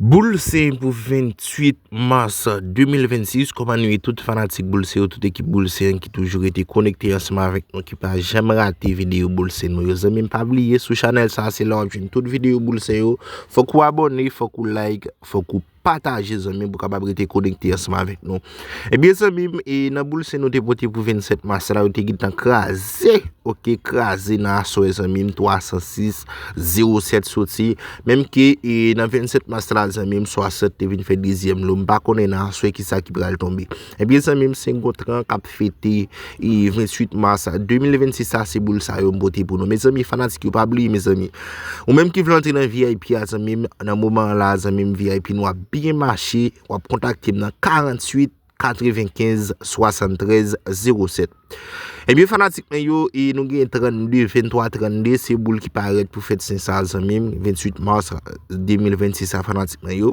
Boul se pou 28 mas 2026 kòman nou ye tout fanatik boul se yo tout ekip boul se ki toujou rete konekte ansanm avèk nou ki pa janm rate videyo boul se nou yo zanmim pa bliye sou chanèl sa se la wap jwenn tout videyo boul se yo fòk ou abòne fòk ou like fòk ou pataje zanmim pou kapab rete konekte ansanm avèk nou. Ebyen zanmi m e nan boul se nou te pote pou 27 mas la yo te gintan kraze ok kraze nan aswè zanmi m 306 07 soti menm ke e nan 27 mas la zanmi m 60 te vin fè dezyèm lo m pa konnen nan aswè ki sa ki pral tonbe ebyen zanmi m se yon tran kap fete e 28 mas 2026 la se boul sa yo m pote pou nou mezanmi fanatik yo pa bliye mezanmi ou menm ki vle antre nan vip a zanmi m nan moman an la zanmi m vip nou ap byen mache. w ap kontakte m nan 48 95 73 07 Ebyen fanatik mwen yo, e nou gen 32, 23, 32, se boul ki parèt pou fèt sen sa zanmim, 28 mars 2026 a fanatik mwen yo.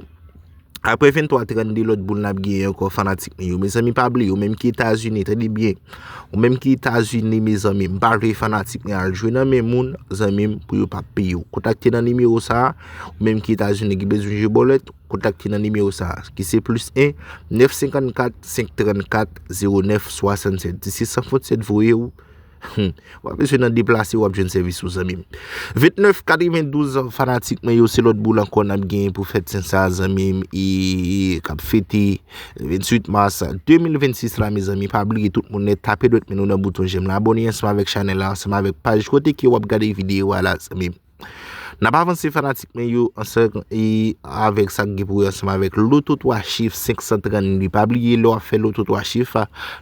Apre 23, 32 lòt boul nap gen yon kò fanatik mwen yo. Mezanmi pa bli, ou menm ki Etazini, tande byen, ou menm ki Etazini mezanmi, m pa vle fanatik mwen al jwe nan men moun, zanmim, pou yo pa peye ou. Kontakte nan nimewo sa, ou menm ki Etazini ki bezwen jwe bòlèt. Kontak ki nan nimewo sa a, ki se plis 1 954 534 09 67. Di se san fot 7 voye ou, w ap bezwen nan deplase w ap jwenn sèvis ou zanmi m. 29 92 fanatik mwen yo, se lòt boul ankò n ap gen pou fèt sen sa a zanmi m, e k ap fete 28 mas 2026 la mezanmi. Pa bliye tout moun nèt, tape dwèt men nou nan bouton jèm la, abòne ansanm avèk chanèl la, ansanm avèk paj kote ke w ap gade videyo a la zanmi m. Nap avanse fanatik mwen yo ansanm e avèk sa k gen pou wè ansanm avèk loto 3 chif 532 pa bliye lè wap fè loto 3 chif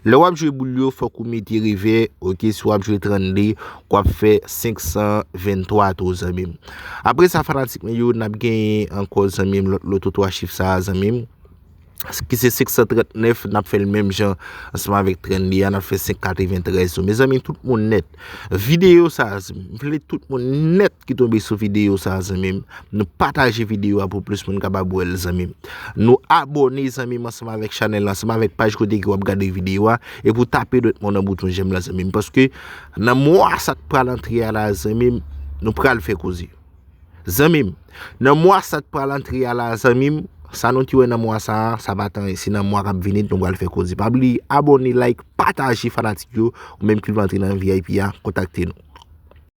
lè wap jwe boul yo fòk ou mete revè ok si wap jwe 32 wap fè 523 tou zanmim apresa fanatik mwen yo nap genyen ankò zanmim lòt loto 3 chif sa a zanmim. ki se 539 nap fèl menm jan ansanm avèk 32 a nap fè 593 yo mezanmi tout moun nèt videyo sa m vle tout moun nèt ki tonbe sou videyo sa zanmim nou pataje videyo a pou plis moun kapab wèl zanmim nou abòne zanmim ansanm avèk chanèl la ansanm avèk paj kote ki wap gade videyo a e pou tape dwèt moun nan bouton jèm la zanmim paske nan mwa sa k pral antre a la zanmim nou pral fè koze. Zanmim nan mwa sa k pral antre a la zanmim sa nou te wè nan mwa sa sa pa t anyen se nan mwa kap vini nou pral fè koze pa bliye abòne like pataje fanatik yo ou menm ki vle antre nan vip a kontakte nou.